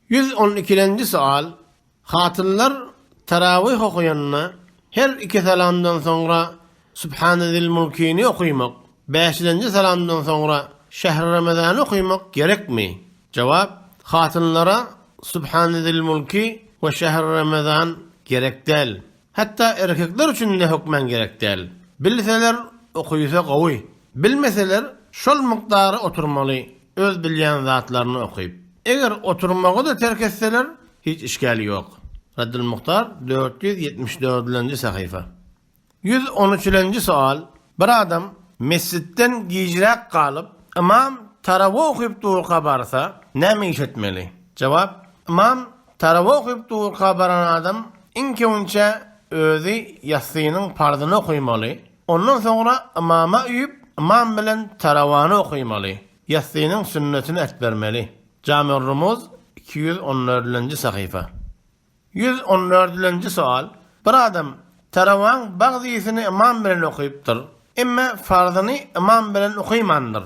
Ýüz on ikilenji soal, Hatynlar tarawyh okaýanda, her iki salamdan soňra Subhana zil mulkini okaýmak, bäşilenji salamdan soňra Şehri Ramazany okaýmak gerekmi? Jogap, Hatynlara Subhana zil mulki we Şehri Ramazan gerek däl. Hatda erkekler üçin-de hökman gerek däl. Bilseler, okuýsa gowy. Bilmeseler, şol mukdary oturmaly, öz bilýän zatlaryny okyp. Eger oturmagy-da terk etseler, hiç işgäl ýok. Raddylmuktar dört ýüz ýetmiş dördülenji sahypa. Ýüz on üçülenji soal, Bir adam mesjitden gijräk galyp, ymam tarawa okyp durka barsa, näme iş etmeli? Jogap, Ymam tarawa okyp durka baran adam iň köwünçe özi ýassynyň parzyny okymaly, ondan soňra ymama üýüp, ymam bilen tarawany okymaly, ýassynyň sünnetini ätbermeli. Jami-ur-Rumuz, iki ýüz on dördünji sahypa. Ýüz on dördünji sowal, Bir adam tarawaň bagzysyny ymam bilen okypdyr, emme farzyny ymam bilen okymandyr,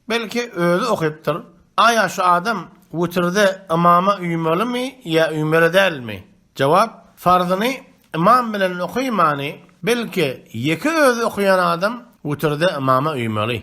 belki özi okypdyr, aýa şu adam witirde ymama uýmalymy ýa uýmaly dälmi? Jogap, Farzyny ymam bilen okymany, belki ýeke özi okaýan adam witirde ymama uýmaly.